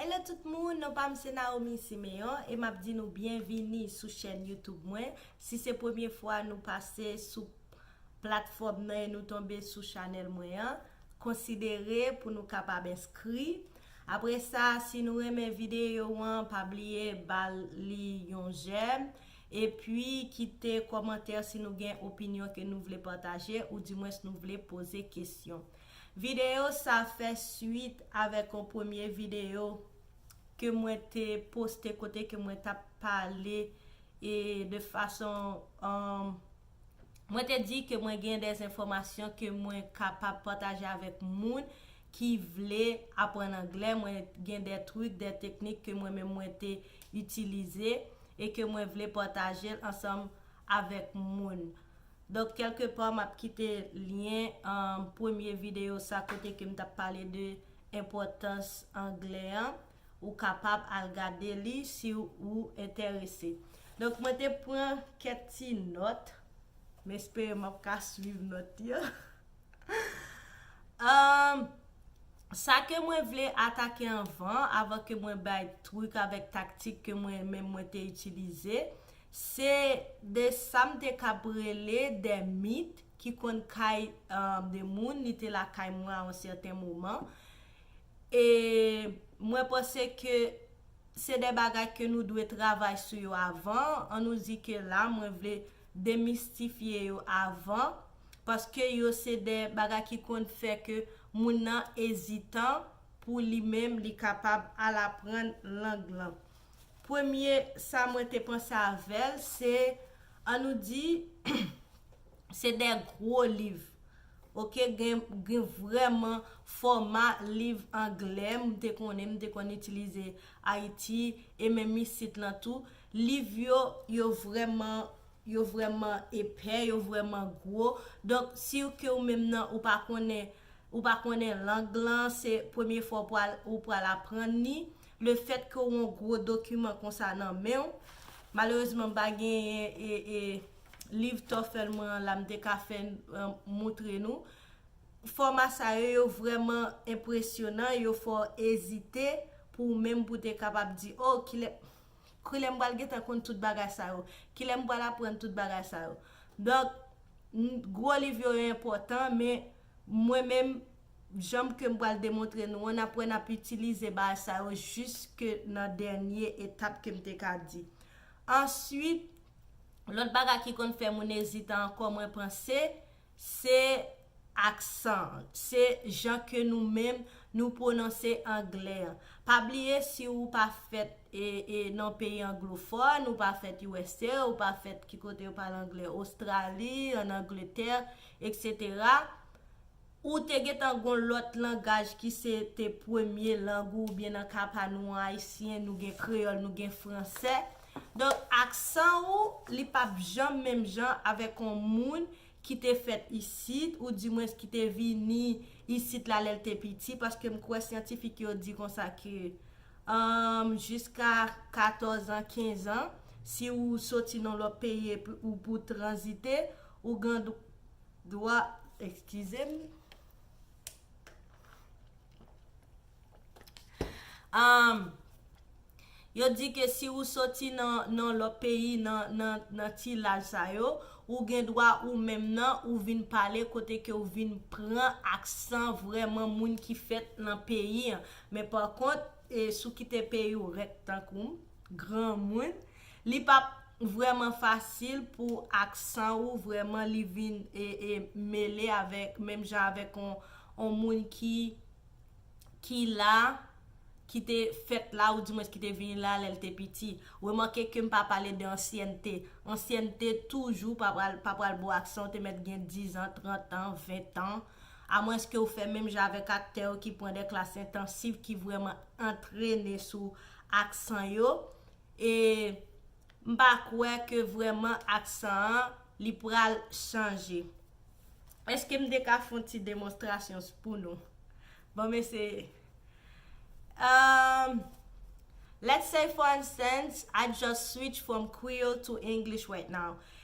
Hello tout moun, non pam se Naomi Siméon e map di nou byenvini sou chèn YouTube mwen. Si se premye fwa nou pase sou platfòm nan e nou tonbe sou chanèl mwen an, konsidere pou nou kapab enskri. Apre sa, si nou renmen videyo an, pa bliye bal li yon jèm epi kite kòmantè si nou gen opinyon ke nou vle pataje ou dimwens nou vle poze kesyon. Videyo sa fè swit avèk yon premye videyo ke mwen te poste kote ke mwen tap pale de fason mwen te di ke mwen gen de enfòmasyon ke mwen kapab pataje avèk moun ki vle aprann anglè, mwen gen de trik, de teknik ke mwen menm mwen te itilize e ke mwen vle pataje l ansanm avèk moun. Donk kèlke pa map kite lyen premye videyo sa kote ke m tap pale de enpòtans anglè an, ou kapab al gade li si ou enterese. Donk mwen te pran kèk ti nòt, m espere map ka swiv nòt yo. Sa ke mwen vle atake anvan, avan ke mwen bay trik avèk taktik ke mwen menm mwen te itilize, Se de sa m te kab rele de mit ki konn kay de moun, li te lakay mwen a yon sèten moman. E mwen panse ke se de bagay ke nou dwe travay sou yo avan. An nou di ke la mwen vle demistifye yo avan, paske yo se de bagay ki konn fè ke moun nan ezitan pou li menm li kapab al aprann lang lan. Premye sa mwen te panse avè l se, an nou di, se de gwo liv. Ok, gen vrèman fòma liv angle m te konnen, m te konn itilize Ayiti e menm isit lan tou. Liv yo, yo vrèman, yo vrèman epè, yo vrèman gwo. Donk, si w ke ou menm nan ou pa konnen, ou pa konnen lang lan, se premye fwa ou pral aprann li, Le fèt ke w on gwo dokiman konsa nan men w, malerezman m pa genyen e liv TOEFL mwen an la m te ka fè moutre nou. Fòma sa yo, yo vrèman enpresyonan, yo fè w ezite pou ou menm pou te kapab di, o, kilè, kilè m pral gentan konn tout bagay sa yo? Kilè m pral aprann tout bagay sa yo? Donk, gwo liv yo enpòtan men Mwen menm, janm ke m pral demontre nou an, n ap wè n ap itilize bagay sa yo jiske nan dènye etap ke m te ka di. Answit, lòt bagay ki konn fè moun ezitan ankò mwen panse, se aksan an. Se jan ke nou menm nou pwononse angle an. Pa bliye si ou pa fèt nan peyi anglofòn, ou pa fèt usa, ou pa fèt ki kote yo pale angle, Ostrali, an Angletè, Etc Ou te gentan gon lòt langaj ki se te premye lang ou oubyen nan ka pa nou an ayisyen nou gen kreyòl nou gen fransè donk aksan ou li pap janm menm jan avèk on moun ki te fèt isit ou di mwens ki te vini isit la lèl te piti paske m kwè syantifik yo di konsa ke umm jiska katòz an kenz an si ou soti nan lòt peyi epi ou pou tranzite Ou gan dwa eskize m. Ahm Yo di ke si ou soti nan nan lò peyi nan nan nan ti laj sa yo, ou gen dwa ou menm nan ou vin pale kote ke ou vin pran aksan vrèman moun ki fèt nan peyi an. Men pa kont, e si w kite peyi w rèk tankou m, granmoun, Li pap vrèman fasil pou aksan ou vrèman li vin mele avèk menm jan avèk on moun ki ki la, ki te fèt la ou di mwens ki te vini la lèl te piti. Remake ke m pa pale de ansyènte. Ansyènte toujou pa pral pa pral bo aksan ou te mèt gen 10 an, 30 an, 20 tan. A mwens ke ou fè menm jan avèk aktè yo ki pran de klas entansif ki vrèman antrene sou aksan yo. e m pa kwè ke vrèman aksan an li pral chanje. Eske m te ka fon ti demonstrasyon s pou nou? Bon m eseye. Umm Let's say for instance, I just switch from Creole to English right now.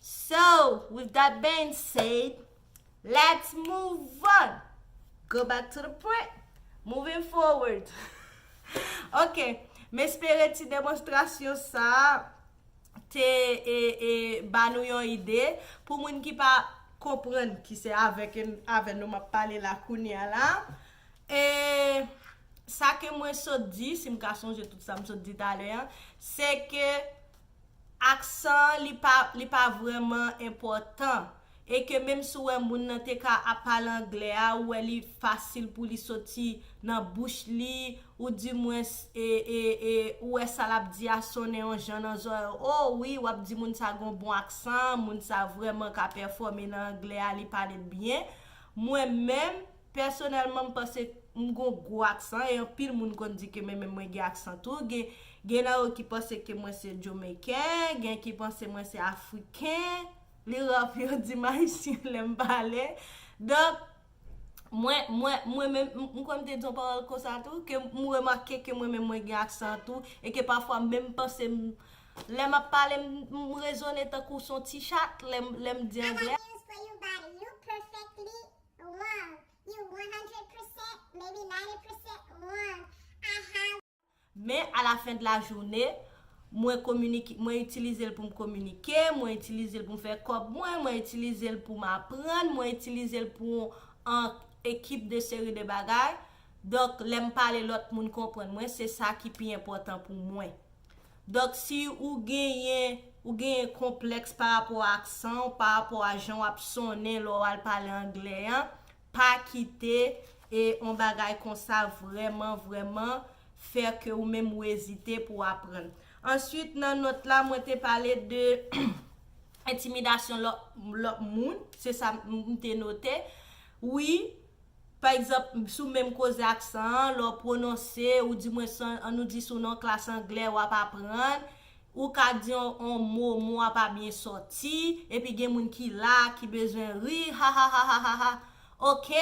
So with that being said, let's move on! Go back to the point! Moving forward! Ok, m espere ti demonstrasyon sa a te ba nou yon ide. Pou moun ki pa konprann, ki se avè nou m ap pale la kounye a la, sa ke mwen sot di, si m ka sonje tout sa m sot di talè an, se ke Aksan li pa li pa vrèman enpòtan e ke menm si w wè moun nan te ka ap pale anglè a ou wè li fasil pou li soti nan bouch li ou di mwens e e e ou wè sa l ap di a sonnen yon jan nan zòrèy w o wi w ap di moun sa gen yon bon aksan moun sa vrèman ka pèfòme nan anglè a li pale l byen mwen menm Pèsonèlman m panse m gon gwo aksan e anpil moun konn di ke men menm mwen gen aksan tou. Gen nan yo ki panse ke mwen se Jomeyken, gen ki panse mwen se Afriken. Li ra pou yo di m Ayisyen lè m pale. Donk, mwen, mwen, mwen menm, m kwè m te di yon pawòl konsa tou, ke m remake ke mwen menm mwen gen aksan an tou e ke pafwa m menm panse m lè m ap pale m rezone tankou son ti chat lè m, lè m di angle. wrong you one hundred percent maybe ninety percent wrong I have. Men a la fen de la journée mwen kominike mwen itilize l pou m kominike mwen itilize l pou m fè kòb mwen mwen itilize l pou m aprann mwen itilize l pou an ekip de seri de bagay donk lè m pale lòt moun konprann mwen se sa ki pi enpòtan pou mwen. Donk si ou genyen ou genyen konplèks pa rapò ak aksan ou, pa rapò a jan w ap sonnen lè w al pale anglè an, pa kite e yon bagay konsa vrèman vrèman fè ke ou menm ou ezite pou w aprann. Answit nan nòt la mwen te pale de entimidasyon lòt moun, se sa m te note. Wi. Pa egzanp, sou menm koze aksan an, lè w pwononse, ou di mwen san, an nou di sou nan yon klas anglè w ap aprann, ou ka di yon mo, mo a pa byen sòti, epi gen moun ki la a ki bezwen ri, hahahahahha, ok,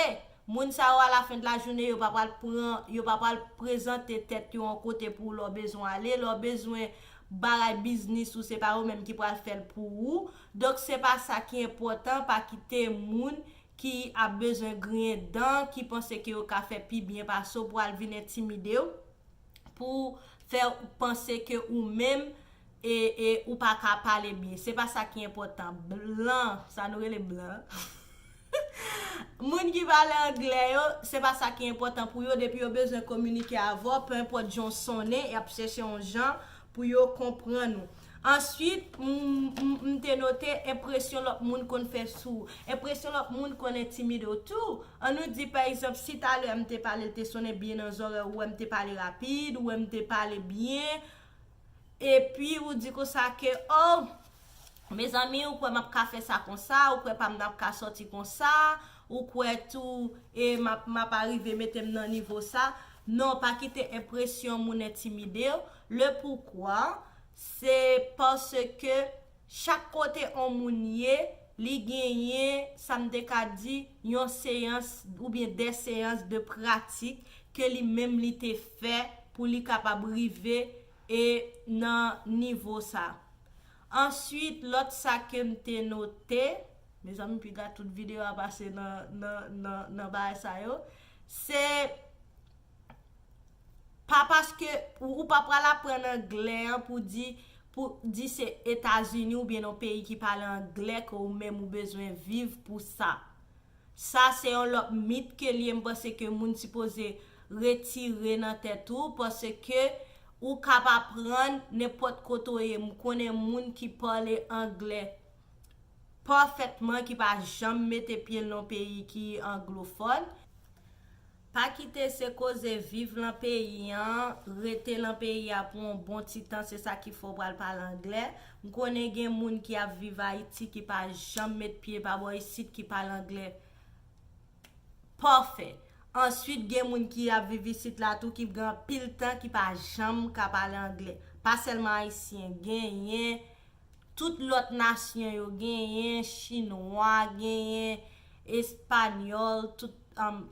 moun sa yo alafendlajounen yo pa pral pran, yo pa pral prezante tèt yo yon kote pou w lè w bezwen ale, lè w bezwen bagay biznis ou se pa yo menm ki pral fè l pou ou, donk se pa sa ki enpòtan, pa kite moun ki ap bezwen griyen dan, ki panse ke yo ka fè pi byen pase w pou al vin entimide w, pou fè w panse ke ou menm e e ou pa ka pale byen. Se pa sa ki enpòtan. Blan, sa nou rele blan an, moun ki pale angle yo, se pa sa ki enpòtan pou yo, depi yo bezwen kominike avè w, pe enpòt jan w sonnen, y ap chèche yon jan pou yo konprann ou. Answit, m te note enpresyon lòt moun konn fè sou ou. Enpresyon lòt moun konn entimide w tou. An nou di, pa egzanp, si talè m te pale, l te sonnen byen nan zòrèy ou, ou wè m te pale rapid, ou wè m te pale byen, epi ou di konsa ke, O! Mezanmi, ou kwè m ap ka fè sa konsa? Ou kwè pa m nan ap ka sòti konsa? Ou kwè tou e m ap m ap arive mete m nan nivo sa? Non, pa kite enpresyon moun entimide w. Lepoukwa? Se paske chak kote on moun ye, li genyen, sa m te ka di, yon seyans oubyen de seyans de pratik ke li menm li te fè pou li kapab rive e nan nivo sa. Answit, lòt sa ke m te note, mezanmi piga tout videyo a pase nan nan nan bagay sa yo, se pa paske ou pa pral aprann anglè an pou di pou di se Etazini ou byen yon peyi ki pale anglè ke ou menm ou bezwen viv pou sa. Sa se yon lòt mit ke liye m panse ke moun si poze retire nan tèt ou panse ke ou kap aprann nenpòt kote ou ye m konnen moun ki pale anglè pafètman ki pa janm mete pye l nan peyi ki anglofòn. Pa kite se koze viv lan peyi an, rete lan peyi a pou on bon ti tan se sa ki fè w pral pale anglè. M konnen gen moun ki ap viv Ayiti ki pa janm met pye pa bò isit ki pale anglè pafè. Ansuit gen moun ki ap viv isit la tou ki gen anpil tan ki pa janm ka pale anglè. Pa sèlman Ayisyen, genyen Tout lòt nasyon yo genyen, chinwa genyen, espanyòl, tout,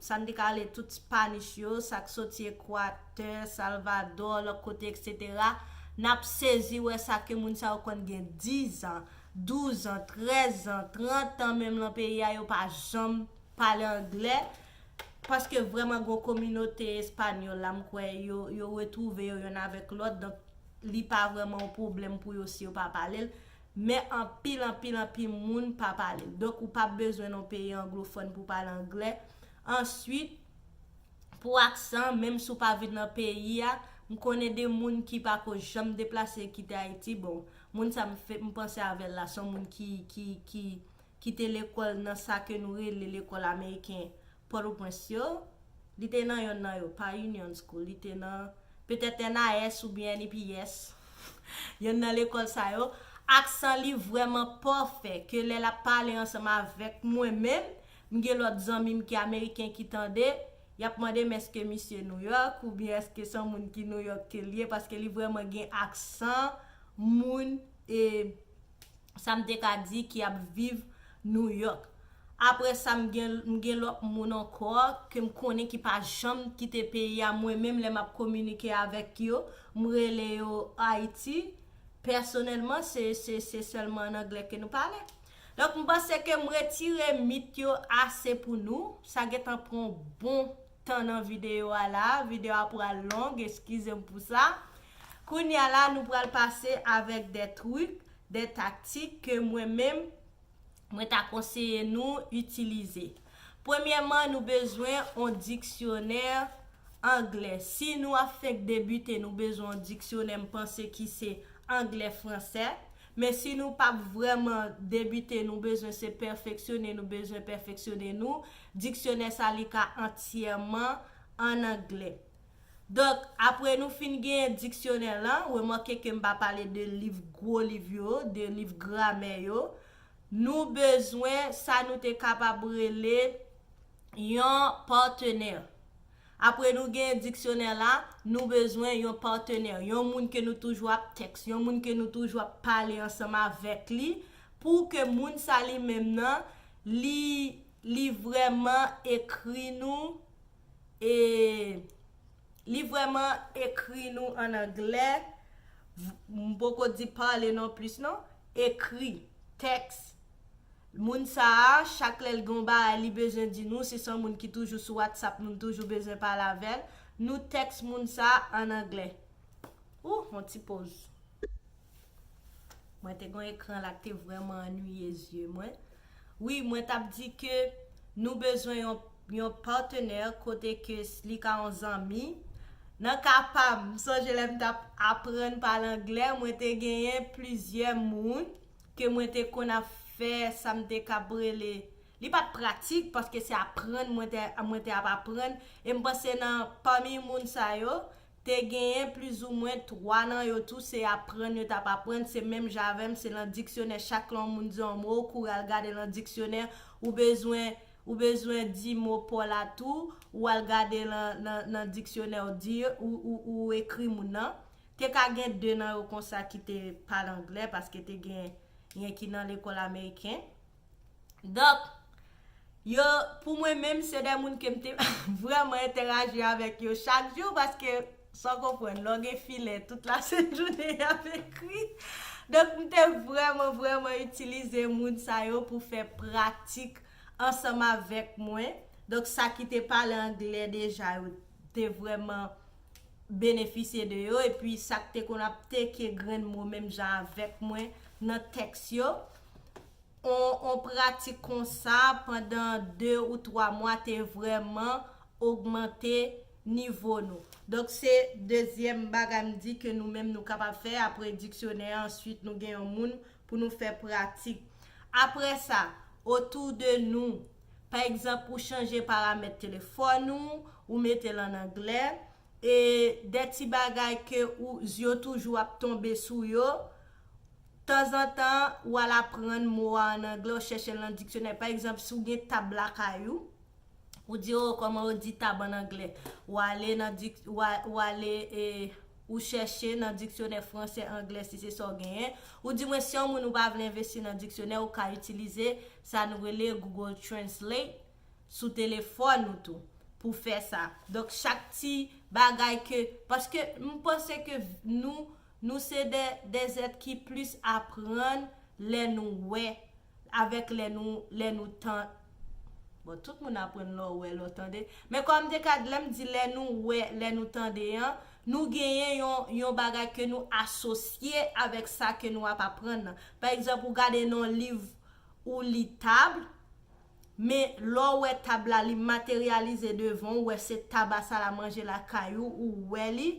sa n te ka rele tout spanish yo, sa k soti Ekwatè, Salvadò, lòt kote eksetera, n ap sezi wè sa ke moun sa yo konn gen dizan, douzan, trèzan, trantan menm lan peyi a yo pa janm pale angle, paske vrèman gen yon kominote espanyòl la m kwè yo yo retwouve yo yonn avèk lòt donk li pa vrèman yon pwoblèm pou yo si yo pa pale l, men anpil, anpil, anpil moun pa pale l. Donk, ou pa bezwen nan yon peyi anglofòn pou w pale angle. Ansuit, pou aksan, menm si w pa vin nan peyi a, m konnen de moun ki pa ko janm deplase kite Ayiti. Bon, moun sa m panse avè l la, se yon moun ki te lekòl nan sa ke nou rele lekòl ameriken Pòtoprens yo, li te nan yonn nan yo, pa Union School, li te nan, petèt NAS oubyen NIPS, yonn nan lekòl sa yo, aksan li vrèman pafè ke lè l ap pale ansanm avèk mwen menm, m gen lòt zanmi m ki ameriken ki tande, y ap mande m èske misye Nouyòk oubyen èske se yon moun ki Nouyòk ke l ye paske li vrèman gen aksan moun e. sa m te ka di ki ap viv New York. Apre sa m gen lòt moun ankò ke m konnen ki pa janm kite peyi a mwen menm lè m ap kominike avèk yo m rele yo Ayiti pèsonèlman se se sèlman an anglè ke nou pale. Donk m panse ke m retire mit yo ase pou nou, sa gen tan pran yon bon. tan nan video a la, video a pral long eskize m pou sa. Kounye a la nou pral pase avèk de truc, de taktik ke mwen menm mwen ta konseye nou itilize. Premyèman nou bezwen on diksyonè anglè. Si nou ap fenk debite nou bezwen on diksyonè m panse ki se anglè fransè. Men si nou pap vrèman debite nou bezwen se pèfeksyone nou bezwen pèfeksyone nou Diksyonè sa li ka antyèman an anglè. Donk, apre nou fin genyen diksyonè lan, remake ke m pa pale de liv gwo liv yo, de liv gramè yo, nou bezwen sa nou te kapab rele yon patenè. Apre nou genyen diksyonè la, nou bezwen yon patenè, yon moun ke nou toujou ap tèks, yon moun ke nou toujou ap pale ansanm avèk li, pou ke moun sa li menm nan, li Li vreman ekri nou e Li vreman ekri nou an anglè m poko di pale non plis non ekri tèks moun sa a chak lè l gen yon bagay li bezwen di nou si se yon moun ki toujou sou whatsapp nou m toujou bezwen pale avè l nou tèks moun sa a an anglè ooh yon ti poz. Mwen te gon ekran la k te vrèman annuiye zye mwen. Wi mwen tap di ke nou bezwen yon yon patenè kote ke li ka yon zanmi. Nan ka pam, m sonje lè m tap aprann pale anglè, mwen te genyen plizyè moun ke mwen te konn ap fè sa m te kab rele, li pat pratik paske se aprann mwen te mwen te ap aprann e m panse nan pami moun sa yo te genyen plizoumwen 3 nan yo tou se aprann yo t ap aprann, se menm jan avè m se lan diksyonè chak lan w moun di on mo ou kouri al gade lan diksyonè, ou bezwen ou bezwen di mo paw la tou ou al gade lan lan lan diksyonè w di ou ou ou ekri moun nan, te ka gen 2 nan yo konsa ki te pale anglè paske te gen yen ki nan lekòl ameriken. Donk, yo, pou mwen menm, se de moun ke m te vrèman entèraji avèk yo chak jou, paske, sa w konprann, lè w gen filè, tout la sent jounen y ap ekri. Donk, m te vrèman, vrèman itilize moun sa yo pou fè pratik ansanm avèk mwen. Donk, sa ki te pale angle deja yo te vrèman benefisye de yo, epi sa k te konn ap teke grenn mo menm jan avèk mwen nan tèks yo, On pratik konsa pandan 2 ou 3 mwa te vrèman ogmante nivo nou. Donk se dezyèm bagay m di ke nou menm nou kapab fè apre diksyonè an answit nou gen yon moun pou nou fè pratik. Apre sa, otou de nou. Pa egzanp ou chanje paramèt telefòn ou, ou mete l an anglè, e de ti bagay ke ou zye w toujou ap tonbe sou yo, Tanzantan, ou al aprann mo a an anglè, ou chèche l nan diksyonè. Pa egzanp, si w gen tab lakay ou, ou di, O, kòman yo di tab an anglè? Ou ale nan dik, ou a, ou ale e ou chèche nan diksyonè fransè, anglè, si se sa w genyen. Ou di mwen si yon moun ou pa vle envesti nan diksyonè, ou ka itilize sa nou rele Google Translate sou telefòn ou tou pou fè sa. Donk, chak ti bagay ke, paske m panse ke nou Nou se de des êtres ki plis aprann lè nou wè avèk lè nou lè nou tan bon tout moun aprann lè w wè lè w tande men kòm de kad lè m di lè nou wè lè nou tande an nou genyen yon yon bagay ke nou asosye avèk sa ke nou ap aprann nan pa egzanp ou gade nan yon liv ou li tab Men, lè w wè tab la, li materyalize devan w, ou wè se tab a salamanje lakay ou, ou wè li,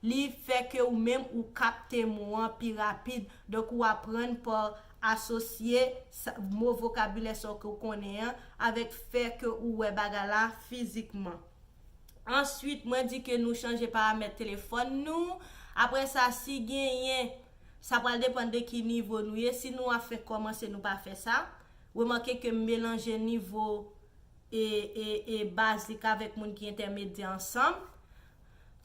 li fè ke ou menm ou kapte mo an pi rapid. Donk, ou aprann pa asosye sa, mo vokabilè sa w ke w konnen an avèk fè ke ou wè bagay la fizikman. Answit, mwen di ke nou chanje paramèt telefòn nou. Apre sa, si genyen, sa pral depann de ki nivo nou ye. Si nou a fenk kòmanse, nou pa fè sa. Remake ke m melanje nivo e e e bazik avèk moun ki entèmedyè ansanm.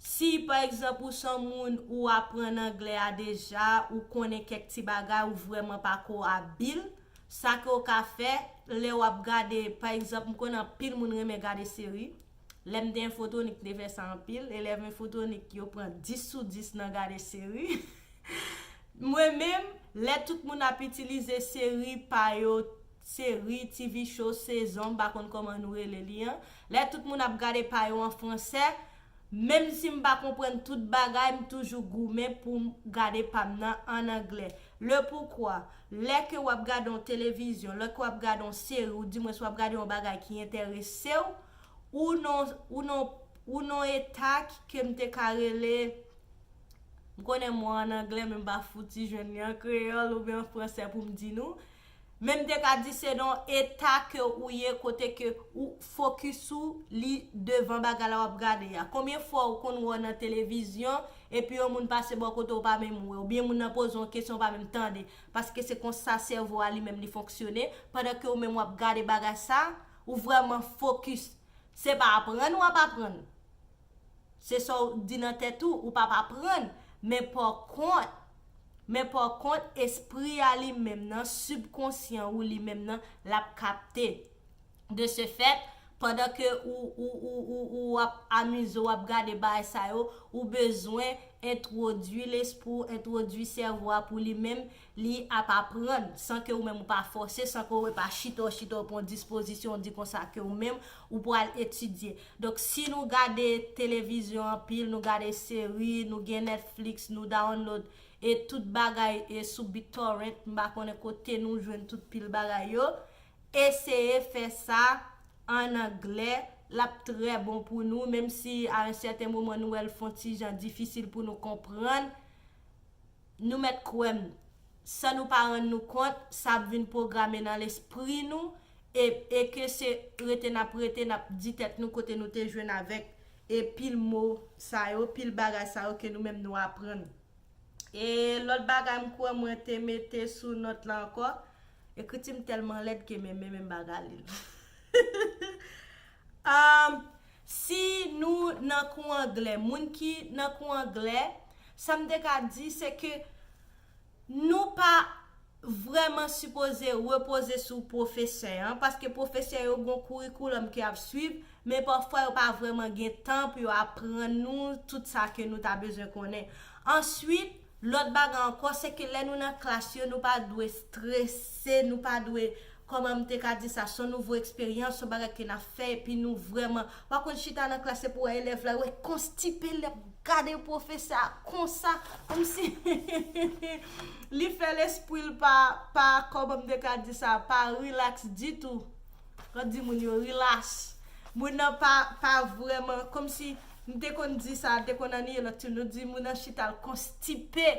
Si, pa egzanp, ou s on moun ou aprann anglè a deja, ou konnen kèk ti bagay, ou vrèman pa ko abil, sa ke w ka fè, lè w ap gade, pa egzanp, m konnen anpil moun renmen gade seri. Lè m te enfotonik m te fè sa anpil. Elèv enfotonik yo pran 10 sou 10 nan gade seri. Mwen menm, lè tout moun ap itilize seri pa yo, seri, TV show, sezon, m pa konn kòman nou rele li an, lè tout moun ap gade pa yo an fransè, menm si m pa konprann tout bagay, m toujou goumen pou m gade pa m nan ann anglè. Le poukwa, Lè ke wap gade yon televizyon, lè ke wap gade yon seri ou di mwens wap gade yon bagay ki enteresew, ou nan ou nan ou nan yon eta ke m te ka rele, m konnen mo an an anglè men m pa fouti jwenn li an kreyòl oubyen an fransè pou m di nou, Men m te ka di se nan yon eta ke ou ye kote ke ou fokis ou li devan bagay la w ap gade a. Konbyen fwa ou konn wè w nan televizyon epi yon moun pase bò kote w ou pa menm wè, oubyen moun nan poze w yon kesyon ou pa menm tande, paske se konsa sèvo a li menm li fonksyone, pandan ke ou menm w ap gade bagay sa, ou vrèman fokis. Se pa aprann w ap aprann. Se sa w di nan tèt ou, ou pa p aprann, men pòkont, men pòkont espri a li menm nan, sibkonsyan ou li menm nan, l ap kapte. De se fèt, pandan ke ou, ou, ou, ou, ou ap amize w ap gade bagay sa yo, ou bezwen entwodui lespri w, entwodui sèvo a pou li menm, Li ap aprann, san ke ou menm ou pa fòse, san ke ou pa chita ou chita ou pran dispozisyon ou di konsa ke ou menm ou pral etidye. Donk si nou gade televizyon anpil, nou gade seri, nou gen Netflix, nou download e tout bagay e sou BitTorrent, m pa konnen kote nou jwenn tout pil bagay yo, eseye fè sa an anglè, l ap trè bon pou nou, menm si a un sèten moman nou wè l fon ti jan difisil pou nou konprann. Nou mèt kwè m, san nou pa rann nou kont, sa ap vin pwograme nan lespri nou e e ke se rete n ap rete n ap di tèt nou kote nou te jwenn avèk e pil mo sa yo, pil bagay sa yo ke nou menm nou aprann. E lòt bagay m kwè mwen te mete sou nòt la ankò, ekriti m tèlman lèd ke menm menm m pa ka li l. Aah! Si nou nan kou anglè, moun ki nan kou anglè, sa m te ka di se ke nou pa vrèman sipoze repoze sou pwofesè an, paske pwofesè yo gon kourikoulòm ke y ap suiv, men pafwa yo pa vrèman gen tan pou yo aprann nou tout sa ke nou ta bezwen konnen. Answit. Lòt bagay ankò, se ke lè nou nan klas yo, nou pa dwe strese, nou pa dwe, kòman m te ka di sa, s on nouvo eksperyans, s on bagay ke n ap fè, epi nou vrèman, pa konn chita nan klas, se pou wè elèv la, wè konstipe, l ap gade pwofesè a konsa, kòm si, li fè lespri l pa, pa, kòman m te ka di sa, pa rilaks ditou, m ap di moun yo, rilas, moun nan pa, pa vrèman, kòm si. M te konn di sa, te konn anniye lòt ti nou di moun an chita l konstipe.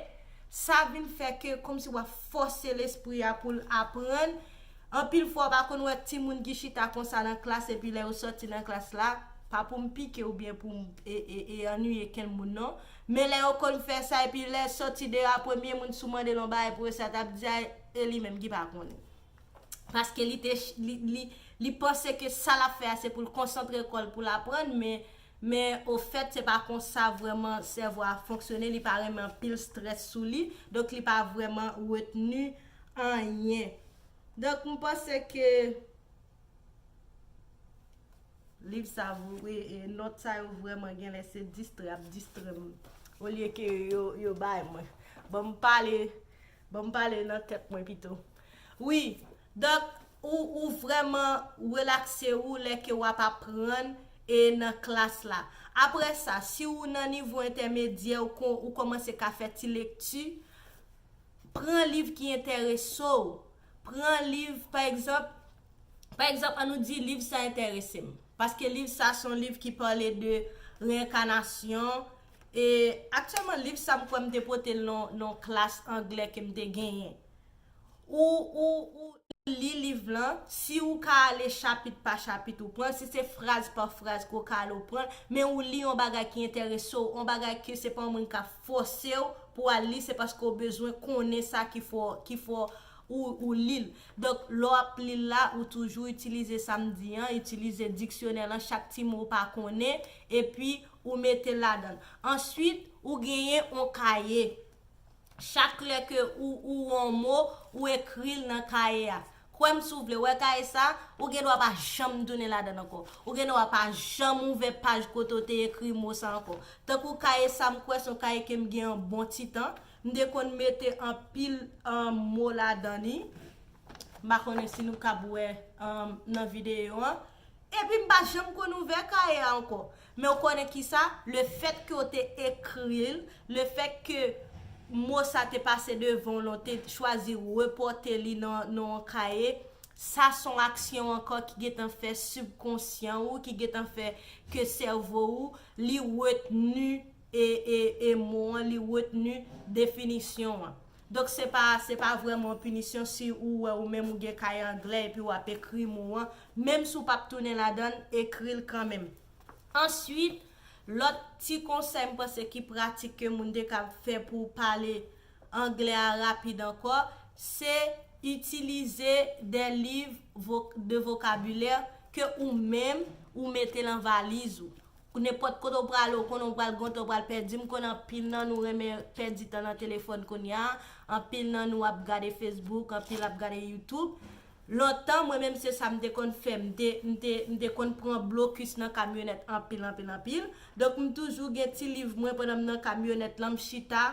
Sa vin fè ke kòmsi w ap fòse lespri a pou l aprann. Anpil fwa w pa konn wè ti moun ki chita konsa nan klas epi lè yo sòti nan klas la, pa pou m pike oubyen pou m e anniye kenn moun non, men lè yo konn fè sa epi lè sòti deyò a premye moun si w mande l yon bagay pou yo sa t ap di a e li menm ki pa konnen. paske li te li panse ke sa lap fè a se pou l konsantre kò l pou l aprann men men ofèt se pa konsa vrèman sèvo a fonksyone li pa renmen anpil strès sou li donk li pa vrèman retni anyen donk m panse ke liv sa vre e nòt sa yo vrèman genlè se distrè ap distrè m olye ke yo yo bay mwen ban m pale ban m pale nan tèt mwen pito. Wi, Doc, ou ou vrèman relakse ou lè ke wap aprann e nan klas la. Aprè sa, si ou nan nivo entèmedyè ou kon ou komanse ka fè ti lekti, pran liv ki entèrese w, pran liv pa egzanp, pa egzanp an nou di liv sa entèrese m, paske liv sa se yon liv ki pale de reenkanasyon, e aktyèlman liv sa m kwè m te pote l nan yon klas anglè ke m te genyen. ou li liv lan, si ou ka ale chapit pa chapit ou pran, si se fraz pa fraz ke w ka ale ou pran, men ou li yon bagay ki enterese w, yon bagay ke se pa yon moun kap fòse w pou w al li, se paske ou bezwen konnen sa ki fè ou li l. Donk, lè w ap li l la, ou toujou itilize sa m di an, itilize diksyonè lan, chak ti mo ou pa konnen, epi ou mete l ladan l. Answit, ou genyen yon kaye. Chak lè ke ou ou on mo, ou ekri l nan kaye a. Kwè m si w vle, wè kaye sa a, ou gen dwa pa janm tounen ladan l ankò. Ou gen dwa pa janm ouvè paj kote w te ekri mo sa ankò. Tankou kaye sa m kwè se yon kaye ke m gen yon bon ti tan. M te konn mete anpil mo ladan li. M pa konnen si nou kab wè nan videyo an. Epi m pa janm konn ouvè kaye a ankò. Men ou konnen kisa, le fèt ke ou te ekri l, le fèt ke mo sa te pase devan w lan, ou te chwazi repòte li nan yon kaye, sa s on aksyon ankò ki gen tan fè sibkonsyan ou, ki gen tan fè ke sèvo ou li retni e mo an, li retni definisyon an. Donk se pa, se pa vrèman yon pinisyon si ou wè ou menm ou gen kaye anglè epi w ap ekri mo an, Menm si w pap tounen ladan l, ekri l kanmenm. Answit, lòt ti konsèy m panse ki pratik ke moun te kab fè pou w pale Anglè a rapid ankò, se itilize de liv de vokabilè ke ou menm ou mete lan valiz ou. Nenpòt kote w prale ou konnen w pral gontan w pral pèdi, m konnen anpil nan nou renmen pèdi tan nan telefòn kounya, anpil nan nou ap gade Facebook, anpil ap gade YouTube. Lontan mwen menm se sa m te konn fè m te m te m te konn pran blokis nan kamyonèt anpil anpil anpil donk m toujou gen ti liv mwen pandan m nan kamyonèt lan m chita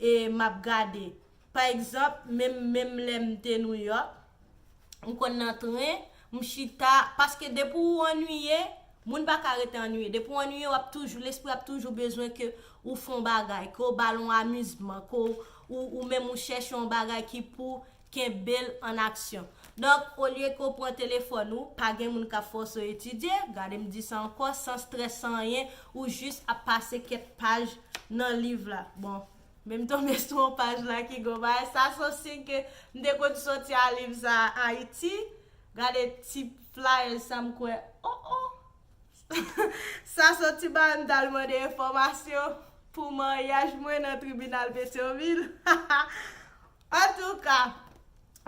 e m ap gade pa egzanp menm menm lè m te Nouyòk m konn nan tren m chita paske depi ou annuiye moun pa ka rete annuiye depi ou annuiye w ap toujou lespri ap toujou bezwen ke ou fè yon bagay ke w ba l yon amizman ke w ou menm ou chèche yon bagay ki pou Kenbe l an aksyon. Donk, olye ke w pran telefòn ou, pa gen moun k ap fòse w etidye, gade m di sa ankò, san strès, san anyen, ou jis ap pase kèk paj nan liv la. Bon, men m tonbe sou yon paj la ki gen yon bagay, sa se yon siy ke m te konn soti a liv sa a Ayiti. Gade ti flyers sa, m kwè, o o! Sa soti ba m, m t al mande enfòmasyon pou maryaj mwen nan tribinal Petyonvil. Ha ha! Antouka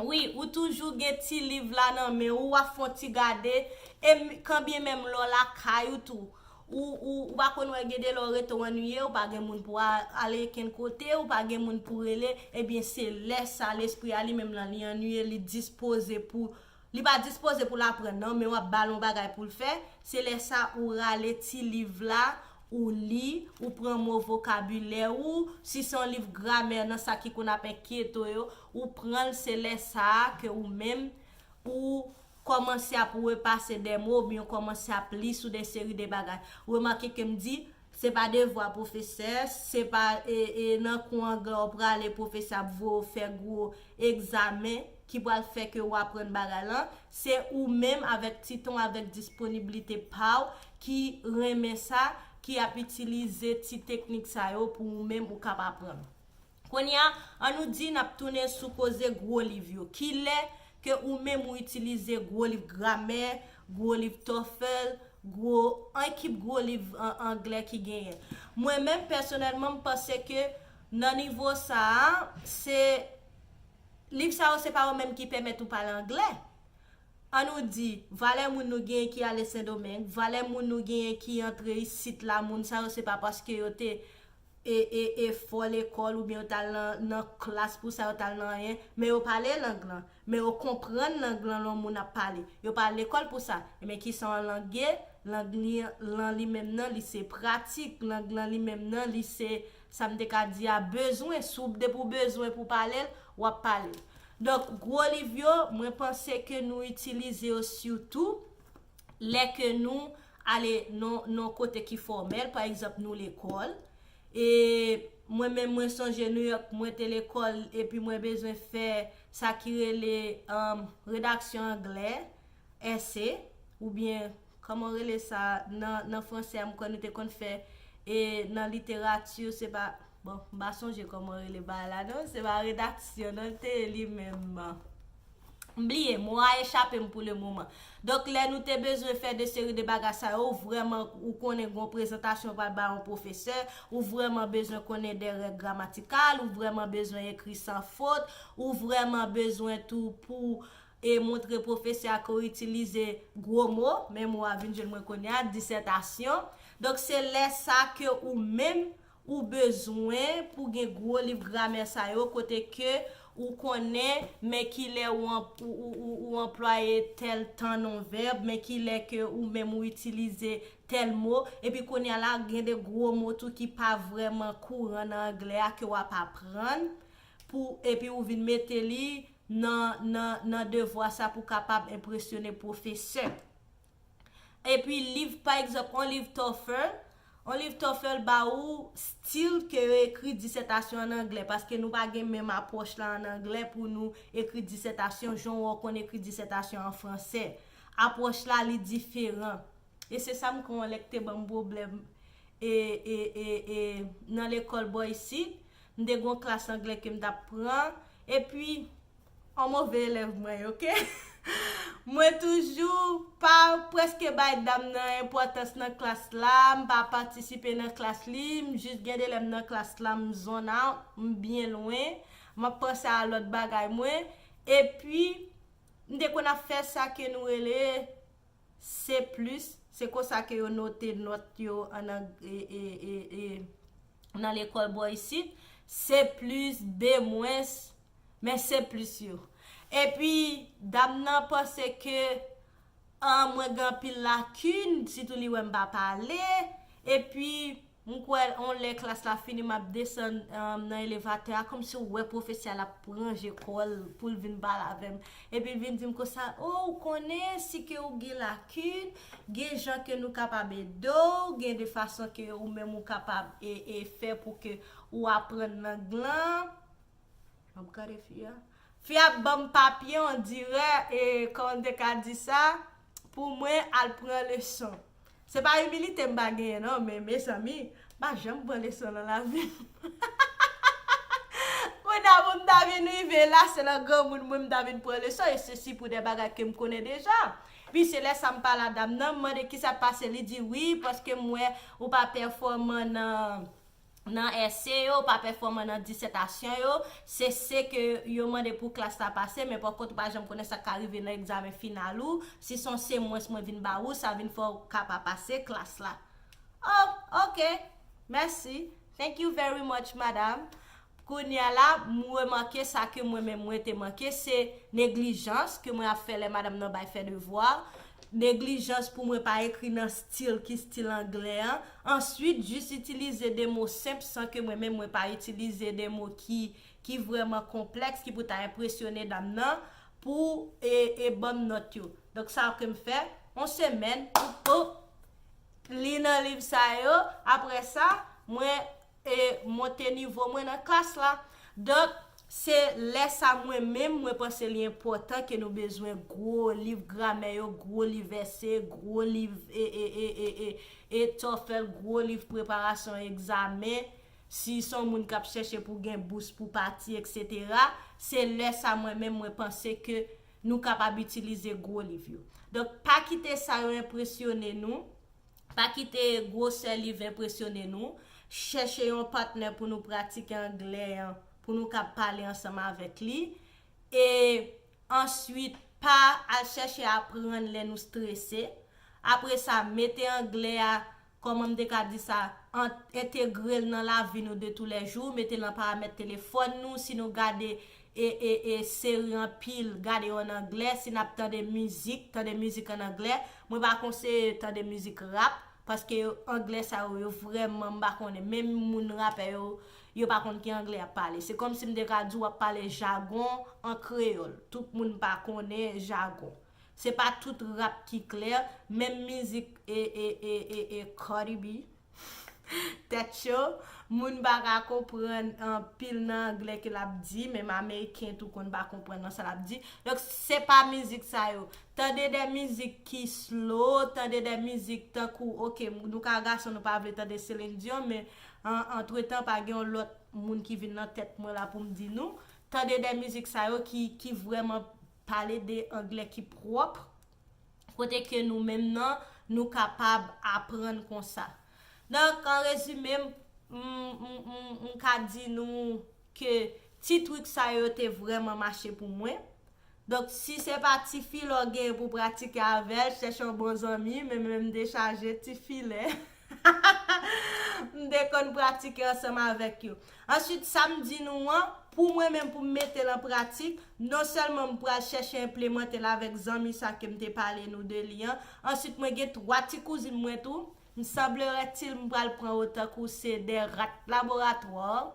wi ou toujou gen ti liv la nan men ou wap fon ti gade e kanbyen menm lè w lakay ou tou ou ou ou pa konn wè gen de lè w rete w annuiye ou pa gen moun pou a ale kenn kote ou pa gen moun pou rele ebyen se lè sa lespri a li menm lan li annuiye li dispoze pou Li pa dispoze pou l aprann nan, men w ap ba l yon bagay pou l fè, se lè sa ou rale ti liv la, ou li, ou pran mo vokabilè ou, si se yon liv gramè nan sa ki konn ap enkyeto yo, ou pran l, se lè sa a ke ou menm, ou kòmanse ap repase de mo oubyen ou kòmanse ap li sou de seri de bagay. Remake ke m di, Se pa devwa pwofesè, se pa e nan kou anglè ou prale pwofesè ap voye ou fè gwo egzamen ki pral fè ke ou aprann bagay lan, se ou menm avèk ti tan w avèk disponiblite pa w ki renmen sa ki ap itilize ti teknik sa yo pou ou menm ou kab aprann. Kounye a, an nou di n ap tounen sou koze gwo liv yo. Ki lè ke ou menm ou itilize gwo liv gramè, gwo liv TOEFL, gwo, an ki gwo liv angle ki genyen? Mwen menm, pèsonèlman, m panse ke nan nivo sa a, se, liv sa yo se pa yo menm ki pèmèt ou pale angle. An nou di, valè moun nou genyen ki ale Sendomeng, valè moun nou genyen ki antre isit la, moun sa yo se pa paske yo te e e efò lekòl oubyen yo t al nan nan klas pou sa, yo t al nan anyen, men yo pale lang lan, men yo konprann lang lan lè yon moun ap pale. Yo pa al lekòl pou sa. Ebyen ki sa yon lang ye? Lang li lan li menm nan li se pratik, lang lan li menm nan li se sa m te ka di a bezwen, si w depi w bezwen pou w pale l, w ap pale l. Donk gwo liv yo, mwen panse ke nou itilize yo sitou lè ke nou ale nan yon kote ki fòmèl, pa egzanp nou lekòl, e mwen menm mwen sonje New York mwen te lekòl epi mwen bezwen fè sa ki rele redaksyon anglè, èse, oubyen kòman yo rele sa nan fransè a m kwè nou te konn fè e nan literati se pa bon m pa sonje kòman yo rele bagay la non se pa redaksyon non l te ye li menm. M bliye, mo a echape m pou le moman. Donk lè nou te bezwen fè de seri de bagay sa yo, ou vrèman, ou konnen gon prezantasyon ou pral bay yon pwofesè, ou vrèman bezwen konnen de règ gramatikal, ou vrèman bezwen ekri san fot, ou vrèman bezwen tou pou w e montre pwofesè a ke w itilize gwo mo, men mo a vin jwenn mwen kounye a, disètasyon. Donk se lè sa ke ou menm, Ou bezwen pou gen gwo liv gramè sa yo kote ke ou konnen men ki lè ou anplwaye tèl tan non vèb, men ki lè ke ou menm ou itilize tèl mo. Epi kounye a la, gen de gwo mo tou ki pa vrèman kouran nan angle a ke w ap aprann pou epi ou vin mete li nan nan nan devwa sa pou kapab enpresyone pwofesè. Epi liv pa egzanp on liv TOEFL, on liv TOEFL ba ou stil ke yo ekri disètasyon an anglè paske nou pa gen menm apwòch la an anglè pou nou ekri disètasyon jan ou konn ekri disètasyon an fransè. Apwòch la li diferan. E se sa m konn wè lè k te ban m pwoblèm e e e e nan lekòl bò isit. M te gen on klas anglè ke m t ap pran epi. An move elèv mwen ok. Mwen toujou pa preske bay dam nan enpotans nan klas la, m pa patisipe nan klas li, m jis gen de lè m nan klas la m zone out, m byen lwen, m ap panse a lòt bagay mwen, epi m te konn ap fè sa ke nou rele C plus, se konsa ke yo note nòt yo an nan lekòl bò isit, C plus, B mwens, Men se plis yo. Epi dam nan panse ke an mwen gen anpil lakin, sitou li wè m pa pale. Epi m kwè yon lè klas la fini m ap desann nan elevatè a kòmsi w wè pwofesè a l ap ranje kò l pou l vin pale avè m. Epi l vin di m konsa, O ou konnen si ke ou gen lakin, gen jan ke nou kapab ede w, gen de fason ke ou menm ou kapab e fè pou ke ou aprann lang lan. Map gade fi a. Fi a banm papye on dirè e kòm te ka di sa pou mwen al pran leson. Se pa imilite mpa genyen non men mezanmi mpa janm pran leson nan lavim hahahaha kounya pou mta vin rive la se nan granmoun mwen mta vin pran leson e se si pou de bagay kem konnen deja. Pi se lè sa mpale a dam nan mpmande kisa k pase li di wi paske m wè ou pa pèfòman nan nan èse yo, pa pèfòman nan disètasyon yo, se se ke yo mande pou klas la pase, men pòkont ou pa janm konnen sa k ka rive nan egzamen final ou, si s on se mwens mwen vin ba ou, sa vin fè w ka pa pase klas la. Oh! Ok! Mèsi! Thank you very much, madam! Kounya la m remake sa ke mwen menm mwen te manke, se neglijans ke mwen ap fè lè madam nan bay fè devwa, neglijans pou mwen pa ekri nan stil ki stil anglè an, answit jis itilize de mo senp san ke mwen menm mwen pa itilize de mo ki ki vrèman konplèks ki pou ta enpresyone dam nan pou e e banm nòt yo. Donk sa ke m fè, on semèn, m, oh, li nan liv sa yo, aprè sa, mwen. e monte nivo mwen nan klas la. Donk, se lè sa mwen menm, mwen panse li enpòtan ke nou bezwen gwo liv gramè yo, gwo liv vèse, gwo liv e, e, e, e, e, e tòfèl, gwo liv preparasyon egzamen, si se yon moun k ap chèche pou gen bous pou pati, eksetera, se lè sa mwen menm, mwen panse ke nou kapab itilize gwo liv yo. Donk, pa kite sa yo enpresyone nou. Pa kite gwosè liv enpresyone nou. Chèche yon patnè pou nou pratike anglè an, pou nou ka pale ansanm avèk li. E answit, pa al chèche aprann lè nou strese. Apre sa, mete anglè a, kòman m te ka di sa, an, entegre l nan lavi nou de tou lè jou, mete l nan paramèt telefòn nou, si nou gade E e e seri anpil gade yo an anglè si nap tande mizik tande mizik an anglè mwen pa konseye tande mizik rap paske yo anglè sa yo yo vrèman m pa konnen menm moun rapè yo yo pa konn ki anglè yap pale se kòmsi m te ka di w ap pale jagon an kreyòl tout moun pa konnen jagon se pa tout rap ki klè menm mizik e e e e e cardi b Tèt cho, moun pa ka konprann anpil nan anglè ke lap di, menm ameriken tou konn pa konprann nan sa lap di. Donk se pa mizik sa yo. Tande de mizik ki slow, tande de mizik tankou ok nou ka gason nou pa vle tande Celine Dion men antretan pa gen yon lòt moun ki vin nan tèt mwen la poum di nou, tande de mizik sa yo ki vrèman pale de anglè ki pwòp. kote ke nou menm nan nou kapab aprann konsa. Donk an rezime m m ka di nou ke ti trik sa yo te vreman mache pou mwen. Donk si se pa ti filè w genyen pou w pratike avè l, chèche yon bon zanmi, menm lè m dechaje, ti filè. M te konn pratike ansanm avèk yo. Answit, sa m di nou an, pou mwen menm pou m mete l an pratik, non sèlman m pral chèche enplemante l avèk zanmi sa ke m te pale nou de li an, answit mwen gen 3 ti kouzin mwen tou, m sanbleretil m pral pran yo tankou se 2 rat laboratwa.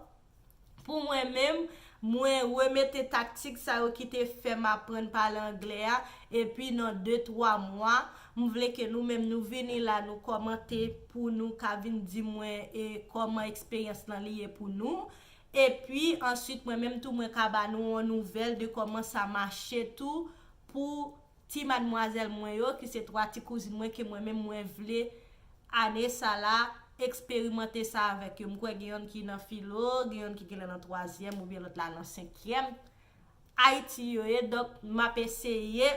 Pou mwen menm, mwen remete taktik sa yo ki te fè m aprann pale anglè a, epi nan de twa mwa, m vle ke nou menm nou vini la nou kòmante pou nou ka vin di mwen e kòman eksperyans lan li ye pou nou. Epi, ansuit mwen menm tou mwen ka ba nou yon nouvèl de kòman sa mache tou pou Ti madmwazèl mwen yo ki se 3 ti kouzin mwen ke mwen menm mwen vle ane sa la eksperimante sa avèk yo. M kwè gen yonn ki nan filo, gen yonn ki genlè nan twazyèm oubyen lòt la nan senkyèm. Ayiti yo ye donk m ap eseye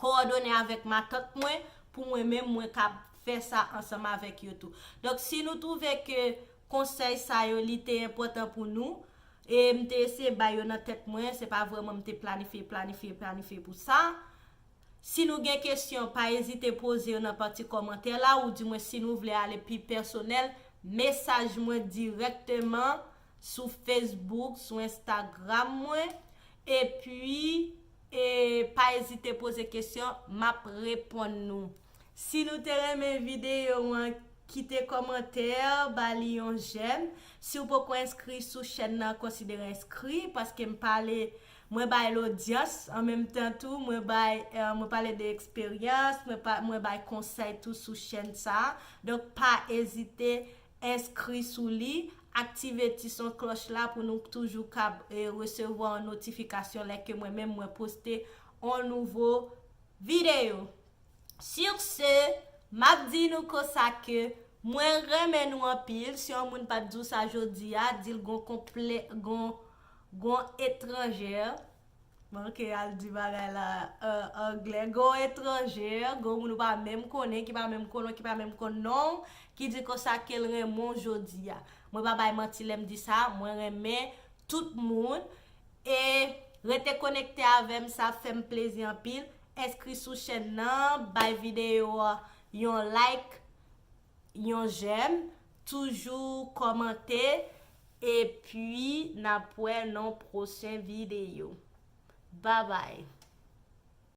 kowòdone avèk matant mwen pou mwen menm mwen ka fè sa ansanm avèk yo tou. Donk si nou twouve ke konsèy sa yo li te enpòtan pou nou, E m te eseye bay yo nan tèt mwen, se pa vrèman m te planifye, planifye, planifye pou sa. Si nou gen kesyon, pa ezite poze yo nan pati kòmantè la, ou di mwen si nou vle ale pi pèsonèl, mesaj mwen dirèkteman sou Facebook, sou Instagram mwen. E pi, e pa ezite poze kesyon, m ap reponn nou. Si nou te renmen video an kite komantè ba li yon jèm siw poko enskri sou chèn nan konsidere enskri paske m pale mwen bay lodyans an menm tan tou mwen bay mwen pale de eksperyans mwen pa mwen bay konsèy tou sou chèn sa donk pa ezite enskri sou li aktive ti son klòch la pou nou k toujou kab resevwa yon notifikasyon lè ke mwen menm mwen poste yon nouvo Video. Sur ce, map di nou konsa ke mwen renmen nou anpil, si yon moun pat di w sa jodi a, di l gon konplè, gon, gon etranjè, manke al di bagay la an anglè, gon etranjè, gon moun ou pa menm konnen, ki pa menm konnen w, ki pa menm konn non w, ki di konsa ke l renmen w jodi a. Mwen pa bay manti lè m di sa, mwen renmen tout moun. E Rete konekte avèm sa ap fèm plezi anpil enskri sou chèn nan bay video a yon like yon jèm toujou kòmante epi nap wè non pwochen video babay.